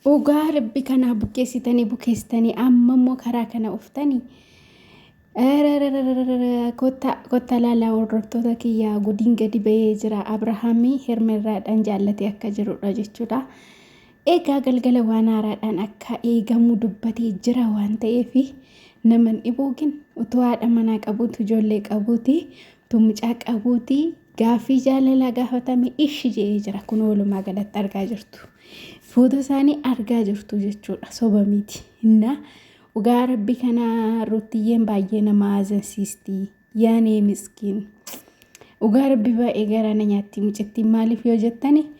Dhugaa rabbi kanaa bukeessitanii bukeessitanii amma immoo karaa kana uftanii. Kotta laalaa hordoftoota kiyyaa gudiin gadi bahee jira. Abrahaamii hermerraadhaan jaallatee akka jirudha jechuudha. Egaa galgala waan haaraadhaan akka eegamu dubbatee jira waan ta'eef naman dhibuu gin utuu haadha manaa qabuutu ijoollee qabuuti utuu mucaa qabuuti Gaaffii jaalalaa gaafatame ishi je'ee jira. Kun walumaa galatti argaa jirtu. Fuuta isaanii argaa jirtu jechuudha. Soba miti. Innaa dhugaa rabbi kana ruttiyyeen baay'ee nama aazansiisti. Yaanee miskiin. Dhugaa rabbi baay'ee garaana nyaatti mucittiin maaliif yoo jettani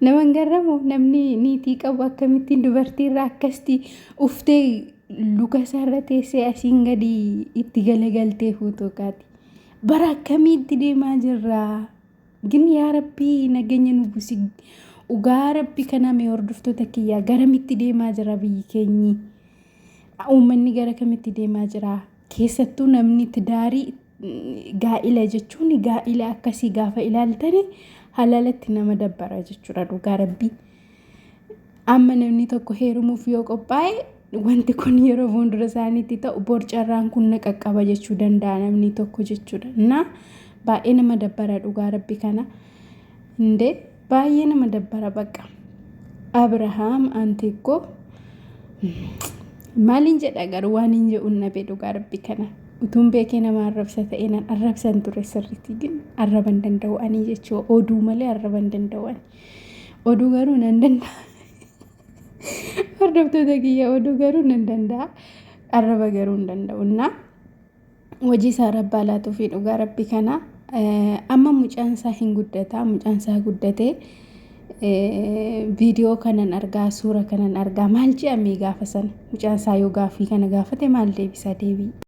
Naman garramu namni niitii qabu akkamittiin dubartii irraa akkasitti uftee luka isaarra teessee asiin gadi itti galagaltee fuutuu kaati. Bara akkamii itti deemaa jirra? Gin yaa rabbii nageenya nu busi. Ugaa rabbi kana mee hordoftoota kiyyaa garamitti deemaa jira biyyi keenyi? Uummanni gara kamitti deemaa jira? Keessattuu namni tidaarii gaa'ila jechuun gaa'ila akkasii gaafa ilaaltani halaalatti nama dabbara jechuudha dhugaa rabbii. Amma namni tokko heerumuuf yoo qophaa'e wanti kun yeroo fuuldura isaaniitti ta'u borcarraan kun na qaqqaba jechuu danda'a namni tokko jechuudha. Innaa baay'ee nama dabbara dhugaa rabbi kana. Indee Baay'ee nama dabbara baqqa. Abrahaam anti koo maaliin jedha garuu waan hin jedhuun dhabee dhugaa rabbi kana utuun beekee nama arrabsa ta'e nan arrabsan ture sirriitti gin arraban danda'u ani jechuu oduu malee arraban danda'u ani oduu garuu nan danda'a hordoftoota kiyya oduu garuu nan danda'a arraba garuu hin danda'u naa hojii isaa rabbi haa laatuufi dhugaa rabbi kana amma mucaan isaa hin guddataa mucaan isaa guddatee viidiyoo kanan argaa suura kanan argaa maal je'amee gaafa sana mucaan isaa yoo gaafii kana gaafate maal deebisaa deebii